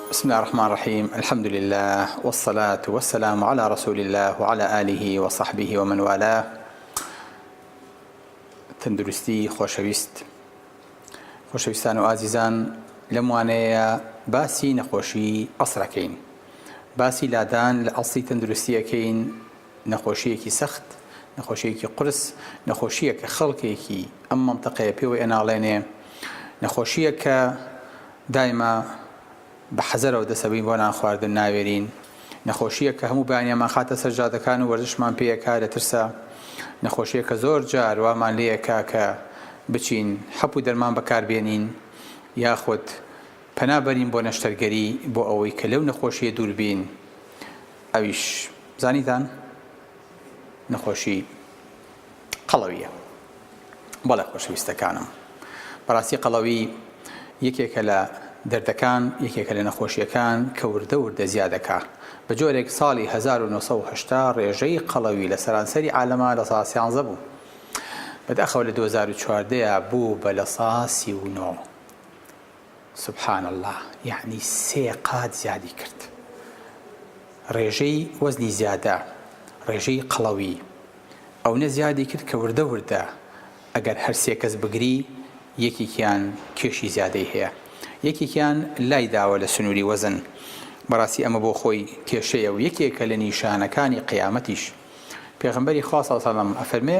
بسم اللە الرحمن الرحیم الحمد للە والصلاة والسلام علی رسول اللە وعلی آله وصحبه ومن والاه تەندروستی خۆشەویست خۆشەویستان و ئازیزان لەم وانەیە باسی نەخۆشی ئەسرەکەین باسی لادان لە ئەسڵی تەندروستیەکەین نەخۆشیەکی سەخت نەخۆشیەکی قرس نەخۆشیە کە خەڵکێکی ئەم منطقەیە پێوە ئەناڵێنێ نەخۆشیە کە دایمە بە حەزەرەوە دەسەبەین بۆ نانخواردن ناوێرین، نەخۆشییەک کە هەموو بەیانیانمان خاتە سەر جادەکان و وەرزشمان پێ ئەکا لە ترسا، نەخۆشییەک کە زۆر جار وامان لێ ئەکا کە بچین حەپ و دەرمان بەکار بێنین یاخود پەنا بەرین بۆ نەشتەرگەری بۆ ئەوەی کە لەو نەخۆشییە دوور بین ئەویش زانیتان نەخۆشی قەڵەوییە. بەڵێ خۆشەویستەکانم. بەڕاستی قەڵەوی یەکێکە لە دەردەکان، یەکێکە لە نەخۆشییەکان کە وردە وردە زیا دەکا. بە جۆرێک ساڵی هەزار و نۆ سەد و هەشتا ڕێژەی قەڵەوی لە سەرانسەری عالەما لە سا سیانزە بوو. بەداخەوە لە دوو هەزار و چواردە بوو بە لە سا سی و نۆ. سبحان اللە یەعنی سێ قات زیادی کرد ڕێژەی وەزنی زیادە ڕێژەی قەڵەوی ئەونە زیادی کرد کە وردە وردە ئەگەر هەر سێ کەس بگری یەکێکیان کێشی زیادەی هەیە یەکێکیان لای داوە لە سنووری وەزن بەڕاستی ئەمە بۆ خۆی کێشەیە و یەکێکە لە نیشانەکانی قیامەتیش پێغمبەری خوا سەڵسەڵم ئەفەرمێ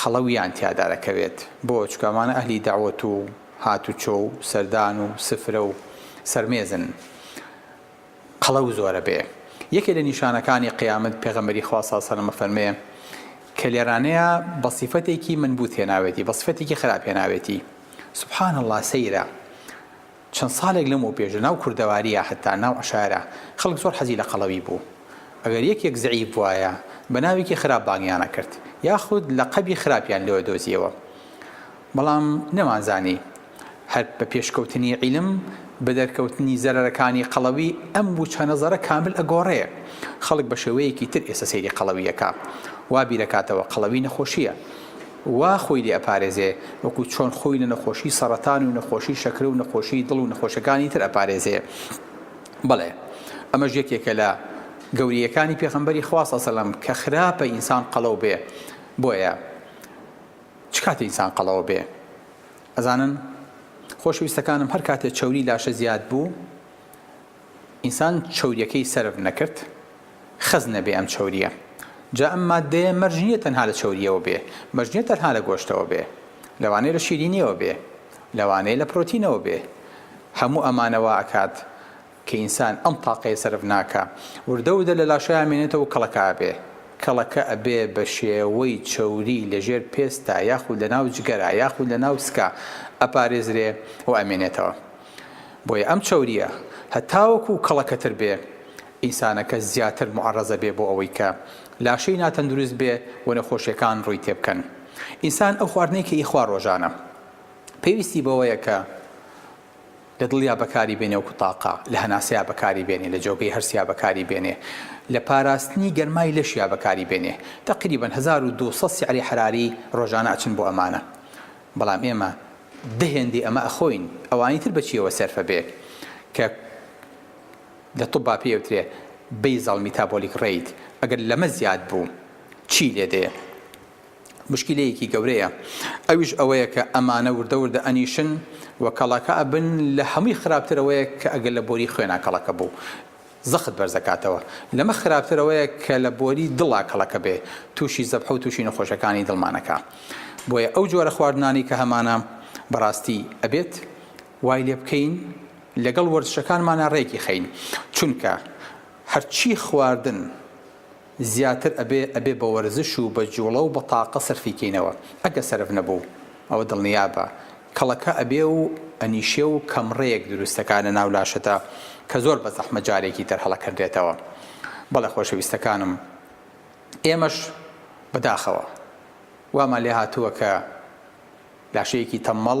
قەڵەویان تیادا دەکەوێت بۆ؟ چونکە ئەمانە ئەهلی دەعوەت و هاتوچۆ و سەردان و سفرە و سەرمێزن قەڵەو زۆرە بێ یەکێ لە نیشانەکانی قیامەت پێغەمبەری خوا صلی اللە علیه و سلم ئەفەرموێ کە لێرانەیە بە صیفەتێکی منبوث هێناوێتی بە صیفەتێکی خراپ هێناوێتی سبحان اللە سەیرە چەند ساڵێک لەمەوپێش لەناو کوردەوارییە هەتا ناو عەشایرە خەڵک زۆر حەزی لە قەڵەوی بوو. ئەگەر یەکێک زەعیف بوایە بە ناوێکی خراپ بانگیان ئەکرد یاخود لەقەبی خراپیان لێ ئەدۆزییەوە. بەڵام نەمانزانی هەر بە پێشکەوتنی عیلم بە دەرکەوتنی زەرەرەکانی قەڵەوی ئەم وچە نەزەرە کامل ئەگۆڕێ. خەڵک بە شێوەیەکی تر ئێستە سەیری قەڵەوی ئەکا. وا بیرئەکاتەوە قەڵەوی نەخۆشییە. وا خۆی لێ ئەپارێزێ وەکو چۆن خۆی لە نەخۆشی سەڕەتان و نەخۆشی شەکرە و نەخۆشی دڵ و نەخۆشەکانی تر ئەپارێزێ بەڵێ ئەمەش یەکێکە لە گەوریەکانی پێخەمبەری خوا صلی سلم کە خراپە ئینسان قەڵەو بێ بۆیە چ کاتێ ئینسان قەڵەوە بێ ئەزانن خۆشەویستەکانم هەر کاتێ چەوری لاشە زیاد بوو ئینسان چەوریەکەی سەرف نەکرد خەست نەبێ ئەم چەوریە جا ئەم ماددەیە مەرج نیە تەنها لە چەوریەوە بێ مەرج نیە تەنها لە گۆشتەوە بێ لەوانەیە لە شیرینیەوە بێ لەوانەیە لە پرۆتینەوە بێ هەموو ئەمانە وا ئەکات کە ئینسان ئەم تاقەیە سەرف ناکا وردە وردە لە لاشەیا مێنێتەوە کەڵەکە ئەبێ کەڵەکە ئەبێ بە شێوەی چەوری لە ژێر پێستا یاخود لە ناو جگەرا یاخود لە ناو سکا ئەپارێزرێ و ئەمێنێتەوە. بۆیە ئەم چەورییە هەتاوەکو کەڵەکەتر بێ، ئینسانەکە زیاتر موعەڕەزە بێ بۆ ئەوەی کە لاشەی ناتەندروست بێ و نەخۆشییەکان ڕووی تێ بکەن. ئینسان ئەو خواردنەی کە ئیخوا ڕۆژانە، پێویستی بەوەیە کە لە دڵیا بەکاری بێنێ وەکو تاقە، لە هەناسەیا بەکاری بێنێ، لە جۆگەی هەرسیا بەکاری بێنێ، لە پاراستنی گەرمای لەشیا بەکاری بێنێ. تەقریبەن هەزار و دوو سەد سیعری حەراری ڕۆژانە ئەچن بۆ ئەمانە. بەڵام ئێمە دە هێندەی ئەمە ئەخۆین ئەوانی تر بەچیەوە سەرفە بێ کە لە طوبا پێی ئەوترێ بەیزەڵ میتابۆلیک ڕەیت ئەگەر لەمە زیاد بوو چی لێ دێ مشکلەیەکی گەورەیە ئەویش ئەوەیە کە ئەمانە وردە وردە ئەنیشن و کەڵەکە ئەبن لە هەمووی خراپترەوەیە کە ئەگەر لە بۆری خوێنا کەڵەکە بوو زەخت بەرزەکاتەوە. لەمە خراپتر ئەوەیە کە لە بۆری دڵا کەڵەکە بێ تووشی زەبحە و تووشی نەخۆشەکانی دڵمان ئەکا. بۆیە ئەو جۆرە خواردنانەی کە هەمانە بەڕاستی ئەبێت وای لێ بکەین لەگەڵ وەرزشەکانمانا رێکی خەین چونکە هەرچی خواردن، زیاتر ئەبێ ئەبێ بە وەرزش و بە جوڵە و بە تاقە سەرفی کەینەوە ئەگەر سەرف نەبوو ئەوە دڵنیابە کەڵەکە ئەبێ و ئەنیشێ و کەمڕێیەک دروست دەکا لە ناو لاشەدا کە زۆر بە زەحمەت جارێکی تر هەڵەکەندرێتەوە بەڵێ خۆشەویستەکانم ئێمەش بە داخەوە وامان لێ هاتووە کە لاشەیەکی تەممەڵ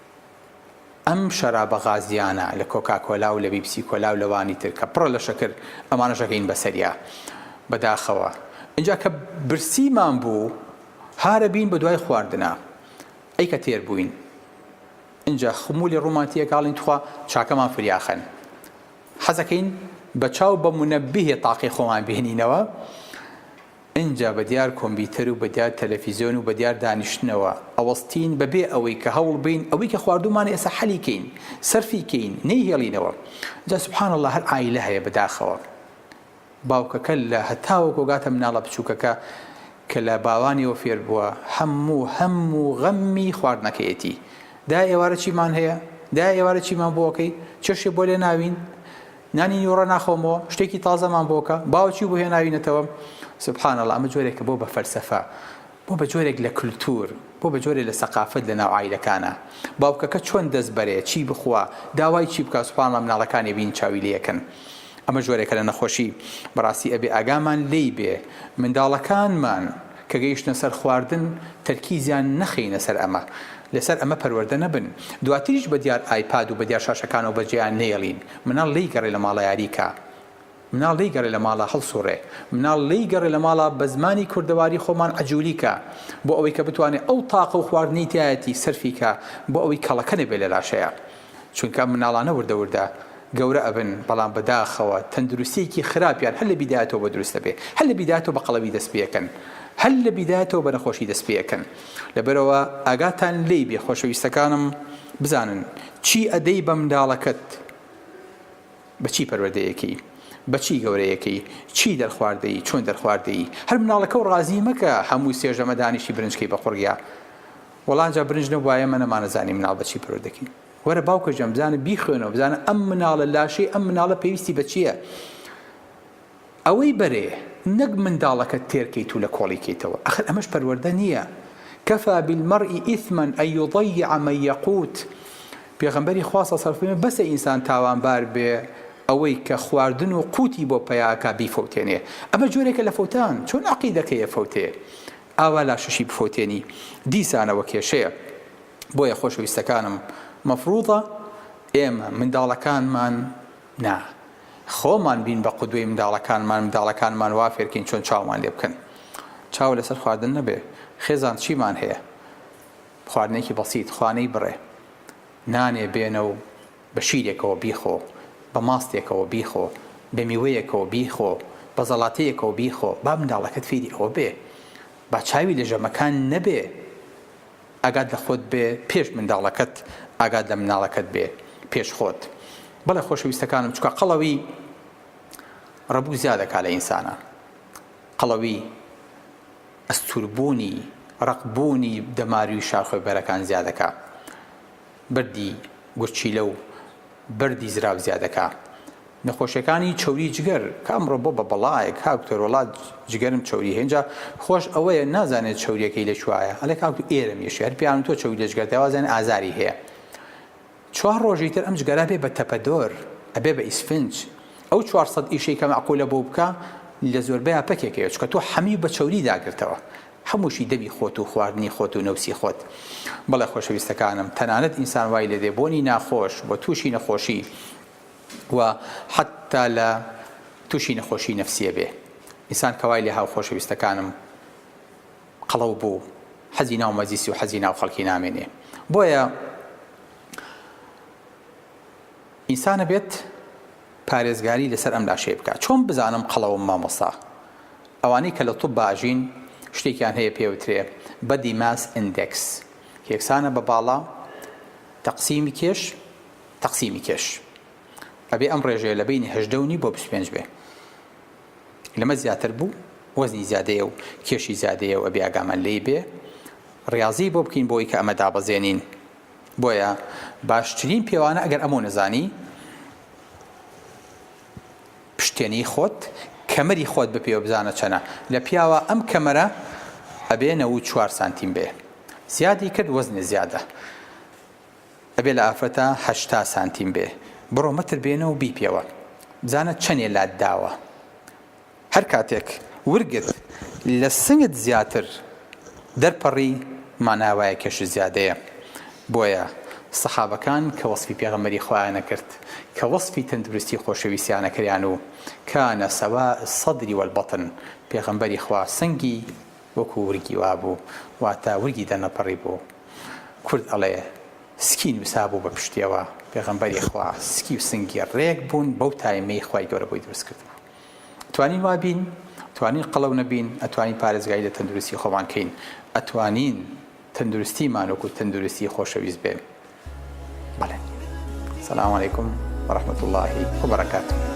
ئەم شەرابە غازیانە لە کۆکاکۆلا و لە بیبسی کۆلا و لەوانی تر کە پڕە لە شەکر ئەمانەش ئەگەین بەسەریا بەداخەوە ئینجا کە برسیمان بوو هارە بین بەدوای خواردنا ئەی کە تێر بووین ئینجا خمولی ڕوومان تێکاڵین تخوا چاکەمان فریاخەن حەزەکەین بە چاو بە منەبیه تاقی خۆمان بهێنینەوە ئینجا بە دیار کۆمبیتەر و بە دیار تەلەفیزۆن و بە دیار دانیشتنەوە ئەوەستین بە بێ ئەوەی کە هەوڵ بین ئەوەی کە خواردوومانە ئێستا حەلی کەین سەرفی کەین نەیهێڵینەوە جا سبحان اللە هەر عایلە هەیە بە داخەوە باوکەکە لە هەتاوەکۆ گاتە مناڵە بچووکەکە کە لە باوانیەوە فێر بووە هەموو هەم و غەممی خواردنەکەیەتی دایە ئێوارە چیمان هەیە دایە ئێوارە چیمان بۆ ئەکەی چێشێ بۆ لێ ناوین نانی نیوەڕۆ ناخۆمەوە شتێکی تازەمان بۆکە باوە چی بۆ هێناوینەتەوە سبحان اللە ئەمە جۆرێکە بۆ بە فەلسەفە بۆ بە جۆرێک لە کلتور بۆ بە جۆرێ لە سەقافەت لە ناو عایلەکانە باوکەکە چۆن دەست بەرێ چی بخوا داوای چی بکا سبحان اللە مناڵەکانی بین چاوی لەکەن ئەمە جۆرێکە لە نەخۆشی بەڕاستی ئەبێ ئاگامان لێی بێ منداڵەکانمان کە گەیشتنە سەر خواردن تەرکیزیان نەخەینە سەر ئەمە، لەسەر ئەمە پەروەردە نەبن، دواتریش بە دیار ئایپاد و بە دیار شاشەکانەوە بەجێیان نەیەڵین، مناڵ لێی گەڕێ لە ماڵە یاری کە، مناڵ لێی گەڕێ لە ماڵە هەڵسوڕێ، مناڵ لێی گەڕێ لە ماڵە بە زمانی کوردەواری خۆمان عەجولی کە، بۆ ئەوەی کە بتوانێ ئەو تاقە و خواردنەی تیایەتی سەرفی کە، بۆ ئەوەی کەڵەکە نەبێ لە لاشەیا. چونکە ئەم مناڵانە وردە وردە گەورە ئەبن بەڵام بەداخەوە تەندروستیەکی خراپیان هەر لە بیدایەتەوە بە دروست ئەبێ هەر لە بیدایەتەوە بە قەڵەوی دەست پێەکەن هەر لە بیدایەتەوە بە نەخۆشی دەست پێەکەن لەبەرەوە ئاگاتان لی بێ خۆشەویستەکانم بزانن چی ئەدەی بە منداڵەکەت بەچی پەروەردەیەکەی بەچی گەورەیەکەی چی دەرخواردەی چۆن دەرخواردەی هەر مناڵەکە و ڕازی مەکە هەموو سێژەمە دانیشی برنجکەی بە قڕگە وەڵا جا برنج نەبوایە ئێمە نەمانەزانی مناڵ بە چی پەروەردە دەکەین وەرە باوکە گیان بزانە بیخوێنەوە بزانە ئەم مناڵە لاشەی ئەم مناڵە پێویستی بە چییە ئەوەی بەرێ نەک منداڵەکە تێرکەیت و لە کۆڵی کەیتەوە ئەخر ئەمەش پەروەردە نییە کەفا بالمەرئی ئیثما ئەن یضیع من یقوت پێغەمبەری خوا صلی الله علیه و سلم بەسە ئینسان تاوانبار بێ ئەوەی کە خواردن و قوتی بۆ پیاکە بیفەوتێنێ ئەمە جۆرێکە لە فەوتان چۆن عقیدەکەیە فەوتێ ئاوا لاشەشی بفەوتێنی دیسانەوە کێشەیە. بۆیە خۆشەویستەکانم مەفروضە ئێمە منداڵەکانمان نا خۆمان بین بە قودوەی منداڵەکانمان منداڵەکانمان وا فێرکەین چۆن چاومان لێ بکەن چاو لەسەر خواردن نەبێ خێزان چیمان هەیە خواردنێکی بەسیت خوانەی بڕێ نانێ بێنە و بە شیرێکەوە بیخۆ، بە ماستێکەوە بیخۆ، بە میوەیەکەوە بیخۆ، بە زەڵاتەیەکەوە بیخۆ، با منداڵەکەت فێری ئەوە بێ با چاوی لە ژەمەکان نەبێ، ئاگات لە خۆت بێ پێش منداڵەکەت، ئاگات لە مناڵەکەت بێ پێش خۆت. بەڵێ خۆشەویستەکانم چونکە قەڵەوی ڕەبوو زیادە کا لە ئینسانا قەڵەوی ئەستوربوونی ڕەق بوونی دەماروی شاخۆێ بەرەکان زیادە کا. بەردی گورچیلە و بەردی زراو زیادەکا نەخۆشیەکانی چەوری جگەر کە ئەمڕۆ بۆ بە بەڵایە کاک دکتۆر وەڵا جگەرم چەوری هەیە ئینجا خۆش ئەوەیە نازانێت چەوریەکەی لە کوایە ئەڵێ کاک دکتۆر ئێرەم یەشێ هەر پێیان تۆ چەوری لە جگەرتای وازانێ ئازاری هەیە چوار ڕۆژی تر ئەم جگەرە بێ بە تەپەدۆر ئەبێ بە ئیسفنج ئەو 400 ئیشەی کە مەعقولە بۆ بکە لە زۆربەیان پەکێکەیە چکە تۆ حەمی بە چەوری داگرتەوە هەمووشی دەمی خۆت و خواردنی خۆت و نەوسی خۆت. بەڵێ خۆشەویستەکانم، تەنانەت ئینسان وای لێ دێ بۆنی ناخۆش و تووشی نەخۆشی و حەتتا لە تووشی نەخۆشی نەفسیە بێ. ئینسان کە وای لێ هاو خۆشەویستەکانم قەڵەو بوو، حەزی ناو مەجلیس و حەزی ناو خەڵکی نامێنێ. بۆیە ئینسان ئەبێت پارێزگاری لەسەر ئەم لاشەی بکا. چۆن بزانم قەڵەوم مامۆستا؟ ئەوانەی کە لە طب باجین شتێکیان هەیە پێوترێ Body Mass Index یەکسانە بە باڵا تەقسیمی کێش تەقسیمی کێش ئەبێ ئەم ڕێژەیە لە بینی هەژدە و نیو بۆ بیست پێنج بێ لەمە زیاتر بوو وەزنی زیادەیە و کێشی زیادەیە و ئەبێ ئاگامان لێی بێ ڕاضی بۆ بکەین بۆی کە ئەمە دابەزێنین بۆیە باشترین پێوانە ئەگەر ئەمە نەزانی پشتێنی خۆت کەمەری خۆت بپێوە بزانە چەنە لە پیاوە ئەم کەمەرە ئەبێ نەوەد و چوار سانتیم بێ زیادی کرد وەزنێ زیادە ئەبێ لە ئافرەتە هەشتا سانتیم بێ بڕۆ مەتر بێنە و بیپێوە بزانە چەنێ لات داوە هەر کاتێک ورگت لە سنگت زیاتر دەرپەڕی مانای وایە کێش و زیادەیە بۆیە سەحابەکان کە وەسفی پێغەمبەری خوایان ئەکرد کە وەسفی تەندروستی خۆشەویستیان ئەکریان و کان سواء الصدر والبطن پێغەمبەری خوا سنگی وەکو ورگی وابوو واتە ورگی دەرنەپەڕیبوو کورد ئەڵێ سکی نوسابوو بە پشتیەوە پێغەمبەری خوا سکی و سنگی ڕێک بوون بەو تایمەی خوای گەورە بۆی دروست کردبوو. توانین وا بین توانین قەڵەو نەبین ئەتوانین پارێزگاری لە تەندروستی خۆمان کەین ئەتوانین تەندروستیمان وەکو تەندروستی خۆشەویست بێ بەڵێ سلام علیکم ورحمة الله وبركاته